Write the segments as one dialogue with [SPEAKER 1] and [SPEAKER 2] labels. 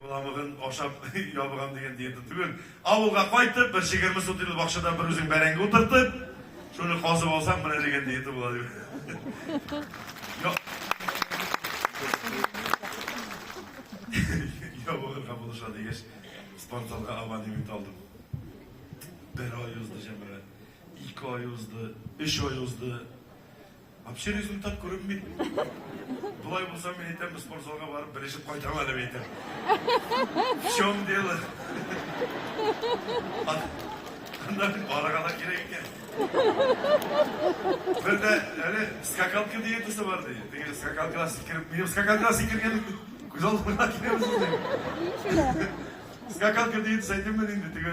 [SPEAKER 1] Боламыгын ашап ябыгам дигән диета түгел. Авылга кайтып, бер чегерме сутыйлы бакчада бер үзең бәрәңге утыртып, шуны казып алсаң, менә дигән диета була дип. Ябыгырга булыша дигәч, спортзалга абонемент алдым. Бер ай узды, җәмәгать. Ике ай узды, өч ай узды. Вообще результат күренми. Болай булса, мин әйтәм, спортзалга барып белешеп кайтам әле әйтәм. В чем дело? Аннан барырга да кирәк икән. Бер дә әле скакалка диетасы бар ди. Теге скакалкага сикереп, минем скакалкага сикергән күз алдыма киләбез. Скакалка диетасы әйтәм мин инде теге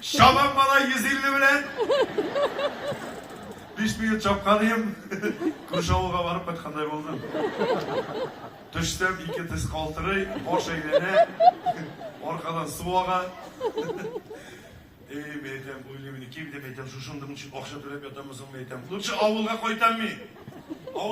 [SPEAKER 1] Чабам бала 150 белән. Биш минут чапканыйм. Күрше авылга барып кайткандай булдым. Төштем, ике тез калтырый, баш әйләнә, аркадан су ага. Эй, мен әйтәм, уйлыйм, мин ким дип әйтәм, шушындым, ничек акча түләп ятаммы соң, мен әйтәм. Лучше авылга кайтам мин.